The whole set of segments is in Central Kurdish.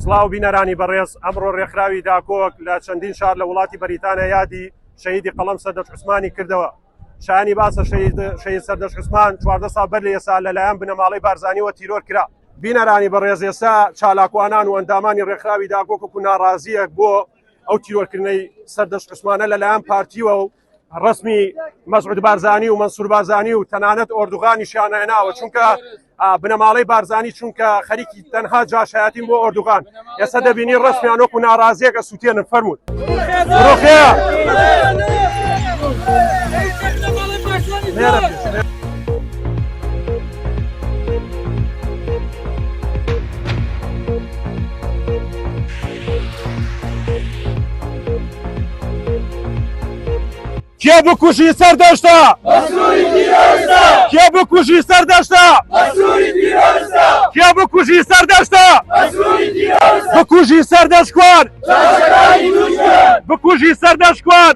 سڵاو بینەرانی بەڕێز ئەمڕۆ ڕێکخراوی داکۆک لە چەندین شار لە وڵاتی بەریتانیا یادی شەهیدی قەڵەم سەردەش عوسمانی کردەوە شانی باسە شەهید سەردەش عوسمان چواردە سا بەر لە ئێسا لەلایەن بنەماڵەی بارزانیەوە تیرۆر کرا بینەرانی بەڕێز ئێستا چالاکوانان و ئەندامانی ڕێکخراوی داکۆک و ناڕازیەک بۆ ئەو تیرۆرکردنەی سەردەش عوسمانە لەلایەن پارتیوە و ڕەسمی مەسعود بارزانی و مەنسور بارزانی و تەنانەت ئۆردوغانیشیان ناوە چونکە بنەماڵەی بارزانی چونکە خەریکی تەنها جاشایەتیم بۆ ئۆردوغان ئێستا دەبینی ڕسمیان وەکو ناڕازیەکە سووتێنن فەرمووت ڕۆخەیە کێ بکوژی سەر دەشتا کێ بکوژی سەر دەشتا کێ بکوژی سەر دەشتا بکوژی سەر دەشکوان بکوژی سەر دەشکوان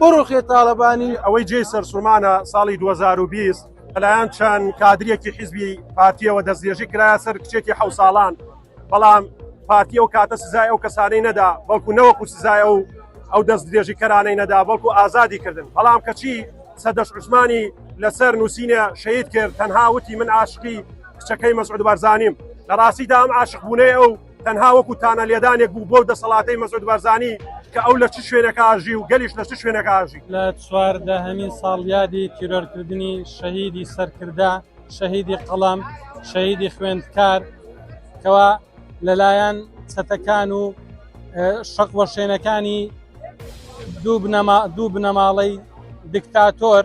بڕوخێ تاڵەبانی ئەوەی جێی سەرسوڕمانە ساڵی دوو هەزار و بیست لەلایەن چەند کادرێکی حیزبی پارتییەوە دەستدرێژی کرایە سەر کچێکی حەو ساڵان بەڵام پارتی ئەو کاتە سزای ئەو کەسانەی نەدا بەڵکو نەوەکو سزای ئەو ئەو دەستدرێژیکەرانەی نەدا بەڵکو ئازادی کردن بەڵام کەچی سەدەش عوسمانی لەسەر نووسینە شەید کرد تەنها وتی من عاشقی کچەکەی مەسعود بارزانیم لە ڕاستیدا ئەم عاشقبوونەی ئەو تەنها وەکو تانە لێدانێک بوو بۆ دەسەڵاتی مەسود بەرزانی کە ئەو لە چ شوێنێک ئاژی و گەلیش لە چ شوێنێک ئاژی لە چواردە هەمین ساڵیادی تیرۆرکردنی شەهیدی سەرکردە شەهیدی قەڵم شەهیدی خوێندکار کەوا لەلایەن چەتەکان و شەق وەشێنەکانی دوو بنەماڵەی دکتاتۆر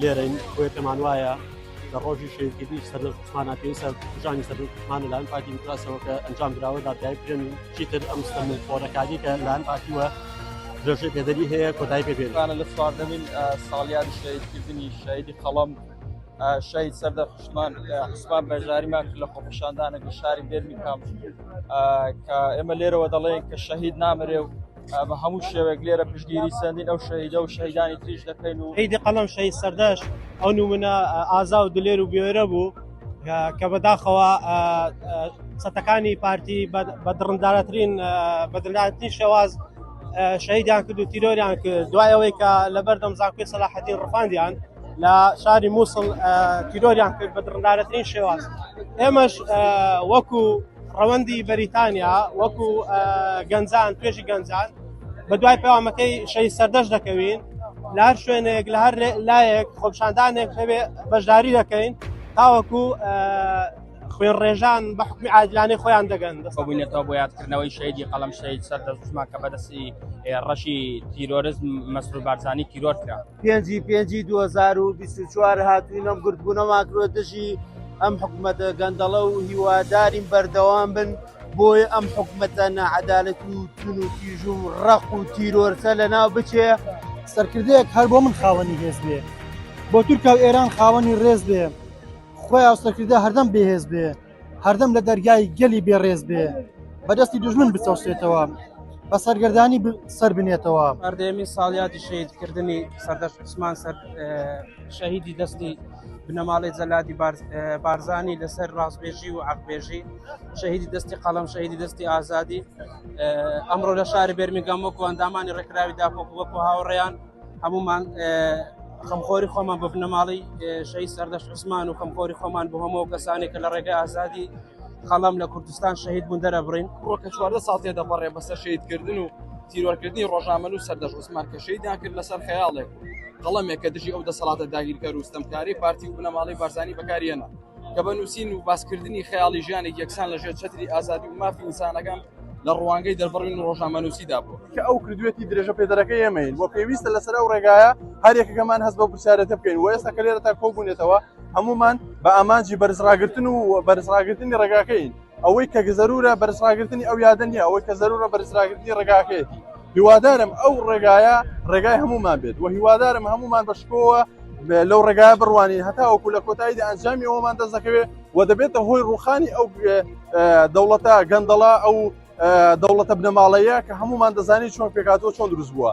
لێرەین بۆیە پێمان وایە لە ڕۆژی شەیدکردنی سەردەم عوسمانە پێویستە کوژانی سەردەم عوسمانە لەلایەن پارتی دیموکراسەوە کە ئەنجام دراوە دادگایی بکرێن و چیتر ئەم ستەملخۆرەکاری کە لەلایەن پارتیوە درێژەی پێدەری هەیە کۆتایی پێ بێنن لە چواردەمین ساڵیادی شەیدکردنی شەیدی قەڵەم شەید سەردە حشمان عوسمان بەژاریمان کرد لە خۆپیشاندانە لە شاری بێرمی کام کە ئێمە لێرەوە دەڵێن کە شەهید نامرێ و بە هەموو شێوەیەک لێرە پشتگیری سندین ئەو شەهیدە و شەهیدانی تریش دەکەین و عیدی قەڵم شەهید سەردەش ئەو نمونە ئازا و دلێر و بێرە بوو کە بەداخەوە سەتەکانی پارتی بە دڕندارەترین بە دڵاتنی شێواز شەهیدیان کرد و تیرۆریان کرد دوای ئەوەی کە لەبەردەم زانکۆی سەلاحەتی ڕفاندیان لە شاری مووسڵ تیرۆریان کرد بە دڕندارەترین شێواز ئێمەش وەکو ڕەوەندی بەریتانیا وەکو گەنجان توێژی گەنجان بە دوای پەیامەکەی شەی سەردەش دەکەوین لە هەر شوێنێک لە هەر لایەک خۆپشاندانێک هەوێ بەشداری دەکەین تاوەکو خوێن ڕێژان بە حکومی عادلانەی خۆیان دەگەن دەستبوونێتەوە بۆ یادکردنەوەی شەیدی قەڵم شەید سەر دەستمان کە بەدەستی ڕەشی تیرۆرزم مەسرور بارزانانی تیرۆر کرا پێنجی پێنجی 2024 هاتوینە گردبوونە ماکرۆ دژی ئەم حکومەتە گەندەڵە و هیوادارین بەردەوام بن بۆیە ئەم حکومەتە نەعەدالەت و تون و تیژ و ڕەق و تیرۆرسە لە ناو بچێ سەرکردەیەک هەر بۆ من خاوەنی هێز بێ بۆ تورکیا و ئێران خاوەنی ڕێز بێ خۆی ئاوسەکردە هەردەم بێهێز بێ هەردەم لە دەرگای گەلی بێ ڕێز بێ بەدەستی دژمن بچەوسێتەوە بە سەرگردانی سەر بنێتەوە ئەردێمی ساڵیادی شەیدکردنی سەردەش عوسمان سەر شەهیدی دەستی بنەماڵی جەلادی بارزانانی لەسەر ڕاستبێژی و عقبێژی شەهیدی دەستی قەڵم شەهیدی دەستی ئازادی ئەمڕۆ لە شاری بەرمیگەم وەکو ئەندامانی ڕێکراوی داپۆک وەکو هاوڕێیان هەمومان خەمخۆری خۆمان بە بنەماڵی شەی سەردەش عزمان و خەمخۆری خۆمان بۆ هەمەوە کەسانێک کە لە ڕێگەی ئازادی خەڵام لە کوردستان شەهید بوون دەرەبڕین ڕۆکە چواردە ساڵ تێ دەپەڕێ بەسەر شەیدکردن و تیرۆرکردنی ڕۆژنامەل و سەردەش عوسمان کە شەیدان کرد لەسەر خەیاڵێک قەڵەمێک کە دژی ئەو دەسەڵاتە داگیرکەر و ستەمکاری پارتی و بنەماڵی بارزانانی بەکاریەنە کە بە نووسین و باسکردنی خەیاڵی ژیانێک یەکسان لە ژێر چەتری ئازادی و مافی ئینسانەکان لە ڕوانگەی دەربڕین و ڕۆژنامەنووسیدا بوو کە ئەو کردوێتی درێژە پێدەرەکە ئێمەین بۆ پێویستە لەسەر ئەو ڕێگایە هەرێکەکەمان هەست بە پرسیارەتە بکەین و ئێستا کە لێرە تا کۆبوونێتەوە هەمومان بە ئامانجی بەرزڕاگرتن و بەرزڕاگرتنی ڕێگاکەین. ئەوەی کە زەرورە بەرزڕاگرتنی ئەو یادە نیە ئەوەی کە زەرورە بەرزراگرتنی ڕێگاکەیەتی هیوادارم ئەو ڕێگایە ڕێگای هەمومان بێت و هیوادارم هەمومان بەشکۆوە لەو ڕێگای بڕوانین هەتا وەکو لە کۆتاییدا ئەنجامی ئەومان دەست دەکەوێت و دەبێتە هۆی ڕوخانی ئەو دەوڵەتە گەندەڵە ئەو دەوڵەتە بنەماڵەیە کە هەمومان دەزانانی چۆن پێکاتەوە چۆن دروست بووە.